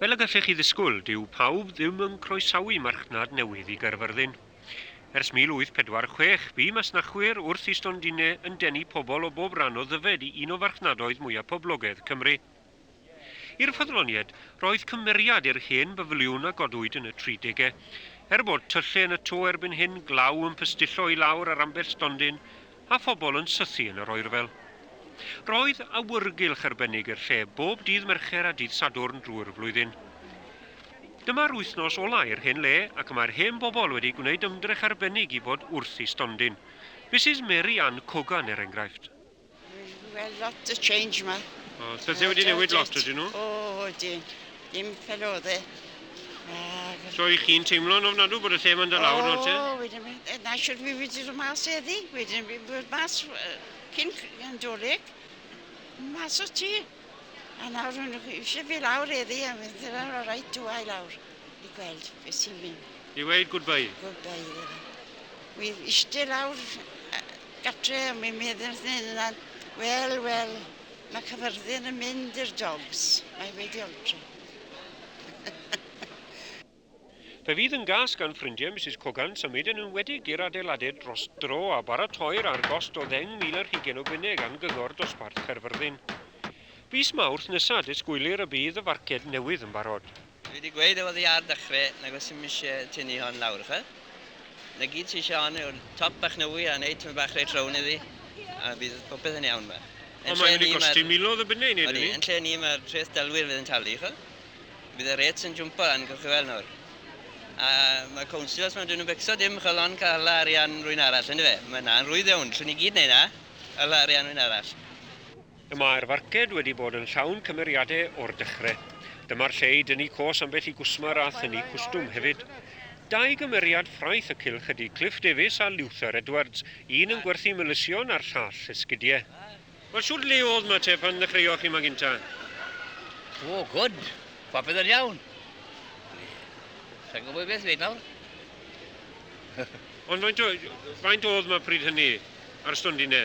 Fel y gallech chi ddisgwyl, dyw pawb ddim yn croesawu marchnad newydd i Gaerfyrddin. Ers 1846, bu masnachwyr wrth i stondinne yn denu pobl o bob rhan o Ddyfed i un o farchnadoedd mwyaf poblogedd Cymru. I'r ffyddloniaid, roedd cymeriad i'r hen bafiliwn a godwyd yn y 30au. Er bod tyllau yn y to erbyn hyn, glaw yn pystillo i lawr ar ambell stondin, a phobl yn sythu yn yr oerfel. Roedd awyrgylch arbennig i'r lle bob dydd Mercher a dydd Sadwrn drwy'r flwyddyn. Dyma'r wythnos ola' i'r hen le ac mae'r hen bobl wedi gwneud ymdrech arbennig i fod wrth eu stondin. Misus Mary Ann Cogan er enghraifft. Wel lot o change 'ma. Oes, pethe wedi newid lot ydyn nhw? O ydyn. Dim fel oedd e. So i chi'n teimlo yn ofnadw bod y lle yma'n dod lawr nawr te? O, wedyn mi, e, na siwr fi wedi dod mas eddi, wedyn fi bod mas cyn yn doleg, mas o ti. A nawr hwn eisiau fi lawr eddi, a mynd i'r ar o'r rhaid dwa i lawr i gweld beth sy'n mynd. I weid goodbye? Goodbye iddo fe. Wy eisiau lawr gatre, a mi'n meddwl, wel, wel, Mae Cyfyrddin yn mynd i'r dogs. Mae wedi oltro. Fe fydd yn gas gan ffrindiau Misus Cogan symud yn enwedig i'r adeiladed dros dro a baratoi'r ar gost o ddeng mil ar hugain o bunne gan Gyngor Dosbarth Caerfyrddin. Fis Mawrth nesa disgwylir y bydd y farced newydd yn barod. Dwi wedi gweud o oddi ar dechre nag oes dim isie tynnu hon lawr yfe? Na gyd ti isie hon yw'r top bach newy a neud tymed bach reit rown iddi a bydd popeth yn iawn yma. Ond mae'n mynd i gosti milodd o bunne i neud hynny. Odi, yn lle ni ma'r treth delwyr fydd yn talu ch'wel? Bydd y rates yn jwmpo lan gewch chi weld nawr. A ma' councillors ma' dw'n nw'n becso dim ch'wel on ca'l hala arian rwyn arall yndyfe? Ma' na'n rwydd iawn, 'llwn ni gyd neud na, hala arian rwyn arall. Y mae'r farced wedi bod yn llawn cymeriadau o'r dechre. Dyma'r lle i dynnu cos ambell i gwsmer a thynnu cwstwm hefyd. Dau gymeriad ffraeth y cylch ydy Cliff Davies a Luther Edwards, un yn gwerthu melysion a'r llall esgidiau. Wel shwt le o'dd ma te pan ddechreuoch chi ma gynta? O, gwd. Popeth yn iawn. Sa'n gwybod beth ddweud nawr. Ond faint o- faint o'dd ma pryd hynny? Ar y stondine?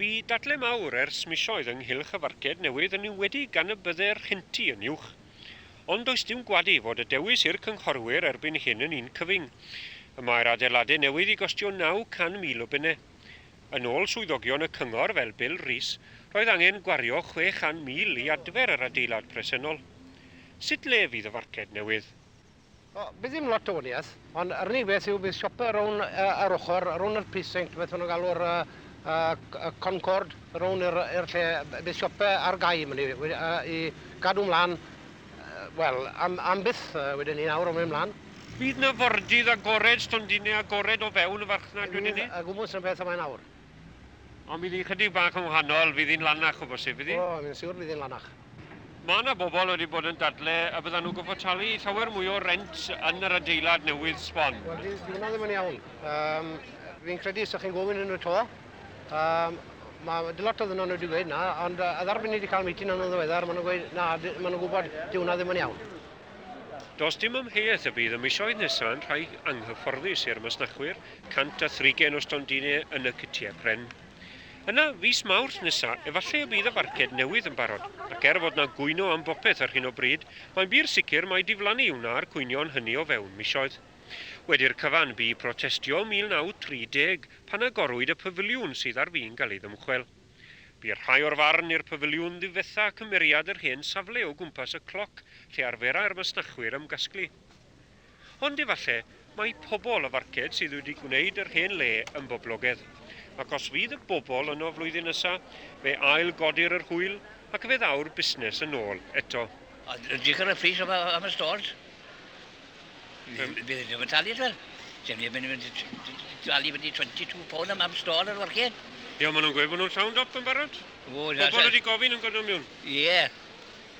Bu dadle mawr ers misoedd ynghylch y farced newydd yn enwedig gan y bydde'r rhenti yn uwch. Ond does dim gwadu fod y dewis i'r cynghorwyr erbyn hyn yn un cyfyng. Y mae'r adeilade newydd i gostio 900,000 o bunne. Yn ôl swyddogion y cyngor fel Bill Rees, roedd angen gwario 600,000 i adfer yr adeilad presennol. Sut le fydd y farced newydd? O, bydd ddim lot o waniaeth, ond yr unig beth yw bydd siopa rown uh, ar ochr, rown yr precinct, beth nhw'n galw'r uh, uh, Concord, rown yr, yr lle, bydd siopa ar gau mynd i, uh, i gadw mlaen, uh, wel, am, am byth uh, wedyn ni nawr o'n mynd mlaen. Bydd na fordydd agored, stondinau agored o fewn y farchnad wedyn ni? Bydd a gwmwys yn beth yma nawr. Ond bydd hi'n chydig bach yn wahanol, fydd hi'n lanach o bosib, bydd hi? O, fi'n siwr bydd hi'n lanach. Mae yna bobl wedi bod yn dadle y byddan nhw'n gorfod talu llawer mwy o rent yn yr adeilad newydd sbon. Wel, di, di hwnna ddim yn iawn. Um, fi'n credu sa'ch chi'n gofyn yn y to. Um, mae lot o ddynau nhw wedi gweud na, ond uh, a ddarfyn ni wedi cael meeting yn y ddiweddar, maen nhw'n gweud na, maen nhw'n gwybod di hwnna ddim yn iawn. Does dim amheuaeth y bydd y misoedd nesaf yn rhai anghyfforddus i'r masnachwyr Cant a thrigen o stondinau yn y cytiau pren. Yna, fis Mawrth nesa, efallai y bydd y farced newydd yn barod, ac er fod 'na gwyno am bopeth ar hyn o bryd, mae'n bur sicr mai diflannu wna'r cwynion hynny o fewn misoedd. Wedi'r cyfan, bu protestio 1930 pan agorwyd y pafiliwn sydd ar fin cael ei ddymchwel. Bu rhai o'r farn i'r pafiliwn ddifetha cymeriad yr hen safle o gwmpas y cloc lle arferai'r masnachwyr ymgasglu. Ond efallai mai pobl y farched sydd wedi gwneud yr hen le yn boblogedd. Ac os fydd y bobl yno flwyddyn nesa, fe ail godir yr hwyl ac fe ddaw'r busnes yn ôl eto. Ond edrych ar y pris am am y stores, bydd bydd ddim yn talu twel. Sef neb yn mynd i talu fyny 22 pound am am store ar y farched. Ie, maen nhw'n gweud bod nhw'n llawn dop yn barod. O, Pobl wedi gofyn yn godwm miwn. Ie.